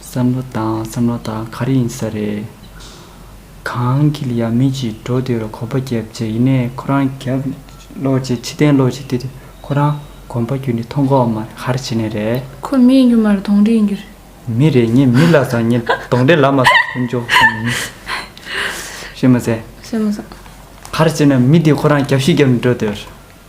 བསམ་བློ་དང་བསམ་བློ་དང་ག་རེ་ཡིན་ས་རེད། གངས་འཁྱིལ་ཡབ་མེས་ཀྱིས་འགྲོ་འདི་རུ་གོམ་པ་བརྒྱབ་རྗེས་ཡིན་ནའི་ཁོ་རང་རྒྱབ་ཀློག་བྱེད་ཕྱི་གཏན་ཀློག་བྱེད་དེ་ཁོ་རང་གོམ་པ་རྒྱུད་ནས་མཐོང་གོ་མ་རེད་ཧར་བྱེད་ནས་རེད། ཁོ་མི་ཡིན་རྒྱུ་མ་རེད་གདོང་འདྲེ་ཡིན་རྒྱུ་རེད། མི་རེད་ངས་མི་ལབ་ཙང་ངས་གདོང་འདྲེ་ལབ་མ་ཙང་ཁོ་མཆོག་གསུམ་མི། ཤེས་མ་ཟད། ཤེས་མ་ཟད། ཧར་བྱེད་ནས་མི་དེ་ཁོ་རང་རྒྱབ་ཤིག་རྒྱབ་ནས་འགྲོ་འདི་རུ།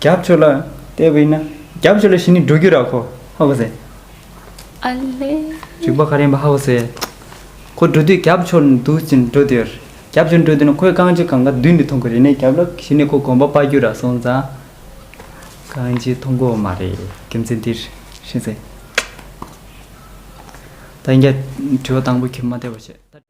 རྒྱབ་ཕྱོགས་ལ་ལྟས་བས་ན་རྒྱབ་ཕྱོགས་ལ་བྱས་ནས་འགྲོ་རྒྱུ་ར་ཁོ་ཧ་གོ་ཟེར། ཨ་ལེ། རིག་པ་ག་རེ་ཡིན་པ་ཧ་གོ་ཟེར། ཁོ་འགྲོ་དུས་རྒྱབ་ཕྱོགས་ལ་འདུག་ཅིང་འགྲོ་དུས། རྒྱབ་ཕྱོགས་ལ་འགྲོ་དུས་ན་ཁོའི་རྐང་རྗེས་གང་ག་མདུན་ནས་མཐོང་གི་རེད་ནས་རྒྱབ་ལ་བྱས་ནས་ཁོ་གོམ་པ་སྤར་རྒྱུ་ར་སོང་ཙང། རྐང་རྗེས་མཐོང་གི་འོ་མ་རེད་རྒྱུ་མཚན་འདིར་ཤེས་ཚེ། ད་ཡིན་རྒྱ། དྲི་བ་དང་པོ་ཁྱེད་མ་བལྟས་པར་བཤད།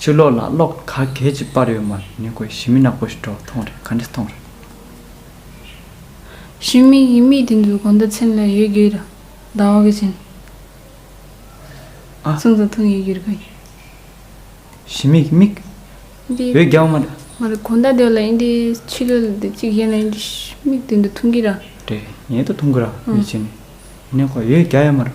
ཕྱིར་ལོག་ལ་གློག་ག་གལ་གྱིས་སྤར་ཡོད་མར་ཉེ་གོས་ཞི་མི་ནག་པོ་ཞིག་གྲོགས་མཐོང་རེད་ག་འདྲི་མཐོང་རེད། ཞི་མི་ཡིན་མིན་དེ་ཚོའི་གོ་འདོད་ཚིམ་ལ་ཡོད་རྒྱུའི་ར་ལྡང་བ་གི་བཞིན། ཨ། གསུང་ཚ་ཐུང་ཡོད་རྒྱུར་གོ་ཡིན། ཞི་མི་ཡིན་མིག། འདི། ཡོད་རྒྱའོ་མ་རེད། མ་རེད་གོ་འདའ་འདོད་ལ་ཡིན་དེ་ཕྱི་ལོལ་ལ་དེ་གཅིག་གཞན་ལ་ཡིན་དེ་ཞི་མིག་དེ་འདི་ཐུང་གི་ར། རེད་ཡིན་དེ་ཐུང་གི་ར་ཡིན་ཕྱིན་ནི་ནས་གོ་ཡོད་རྒྱ་ཡོད་མ་རེད།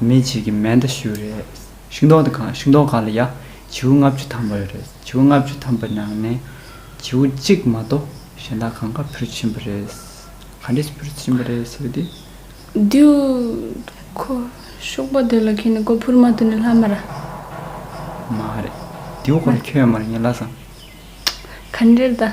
མེད་བྱེད་ཀྱི་མེ་མདའ་གཞུ་རེད། ཤིང་ཏོག་དེ་གང་ཤིང་ཏོག་གང་ལ་ཡ། བྱིའུ་ལྔ་བཅུ་འཐམས་པ་རེད། བྱིའུ་ལྔ་བཅུ་འཐམས་པའི་ནང་ནས། བྱིའུ་གཅིག་མ་གཏོགས་གཞན་དག་གང་ག་ཕུར་ཕྱིན་པ་རེད། ག་འདྲས་ཕུར་ཕྱིན་པ་རེད་ཟེར་བ་དེ། དེའུ། ཁོ། ཤོག་པ་དེ་ལ་ཁེན་ནས་ཁོ་ཕུར་མ་བཏོན་ནས་ལྷ་མ་ར། མ་རེད། དེའུ་ཁོ་ལ་ཁྱོད་ཡོད་མ་རེད་ངས་ལ་བཟང། ག་འདྲས་ད།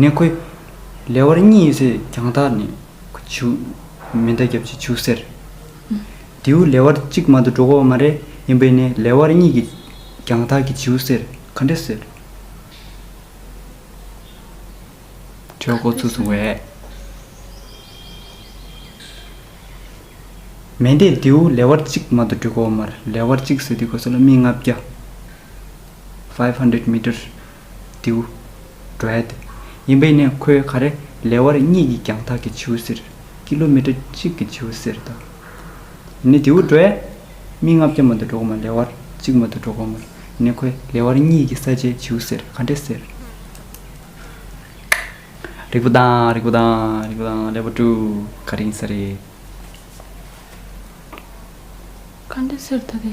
ནས་ཁོའི། ལེ་དབར་གཉིས་ཡོད་ཚད་རྒྱང་ཐག་ནས། བྱུ། མེ་མདའ་བརྒྱབ་ཅིང་བྱུགས་ཟེར། དེའུ་ལེ་དབར་གཅིག་མ་དུ་འགྲོ་གོ་མ་རེད་ཡིན་པས་ནས་ལེ་དབར་གཉིས་ཀྱི། རྒྱང་ཐག་གི་བྱིའུ་ཟེར་ག་འདྲེ་ཟེར། གྲོད་ཁོག་ཚུགས་སོང་བས། མེ་མདས་དེའུ་ལེ་དབར་གཅིག་མ་དུ་འགྲོ་གོ་མར་ལེ་དབར་གཅིག་ཟེར་དུས་གོ་ས་ལ་སྨི་ལྔ་བརྒྱ། Five Hundred Meter། དེའུ། Dread། ཡིན་པས་ནི་ཁོའི་ཁ་རེ་ལས་བར་གཉིས་ཀྱི་རྒྱང་ཐག་གི་བྱིའུ་ཟེར། Kilometer། གཅིག་གི་བྱིའུ་ཟེར་དང། ཡིན་ནི་དེའུ། Dread། མིག་ལྔ་བརྒྱ་མ་དུ་འགྲོ་གོ་མ་ལས་བར་གཅིག་མ་དུ་འགྲོ་གོ་མོར་ཡིན་ནི་ཁོའི་ལས་བར་གཉིས་ཀྱི་ས་ཆའི་བྱིའུ་ཟེར་ག་འདྲེ་ཟེར། རིག་པ་དང་རིག་པ་དང་རིག་པ་དང་ལས་བར་དྲུག་ག་རེ་ཡིན་ས་རེད། ག་འདྲེ་ཟེར་ད་དེ།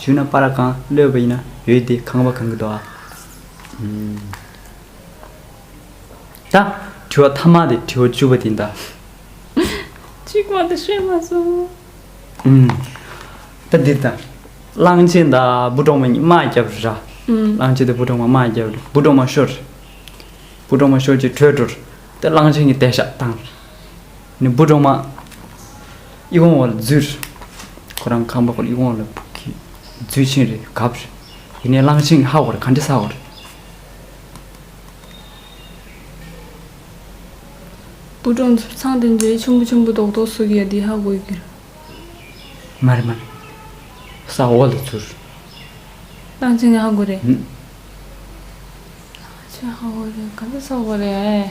ཆུ་ན་པ་ར་གང་གློད་པ་ཡིན་ན་ཡོད་དེ་ཁང་པ་གང་གི་དོ་ཨ། ད་དྲི་བ་ཐ་མ་དེ་དྲི་བ་བཅུ་པ་དེ་ད། གཅིག་མ་དེ་ཤེས་མ་སོང། ད་འདི་ད། གླང་ཆེན་ད་སྦུ་གྲོག་མ་གཉིས་དམག་རྒྱབ་རི་ར། གླང་ཆེན་ད་སྦུ་གྲོག་མ་དམག་རྒྱབ་རི་སྦུ་གྲོག་མ་ཤོར་རི། སྦུ་གྲོག་མ་ཤོར་རྗེས་བྲོས་འགྲོ་རི། ད་གླང་ཆེན་གྱི་དད་ཞག་བཏང་རི། ནི་འབུ་གྲོག་མ། ཨི་ཝང་བར་རྫུས་རེད། ཁོ་རང་ཁམས་པ་པོ་ཨི་ཝང་ལ་བུ་གི་རྫུས་ཆེན་རེད་གབ་རེད། ཡིན་ནའི་གླང་ཆེན་གྱི་ཧ་བ་རེད་ག་འདྲི་ས་བ་རེད། འབུ་གྲོག་མཚོ་ཚང་དེ་འདྲའི་ཆུང་པོ་ཆུང་པོ་རྡོག་རྡོག་ཟུག་ཡ་འདི་ཧ་གོ་གི་རེད། མ་རེད་མ་རེད། ས་འོག་ལ་རྫུས་རེད། གླང་ཆེན་གྱི་ཧ་གོ་རེད། གླང་ཆེན་ཧ་གོ་རེད་ག་འདྲི་ས་བ་རེད།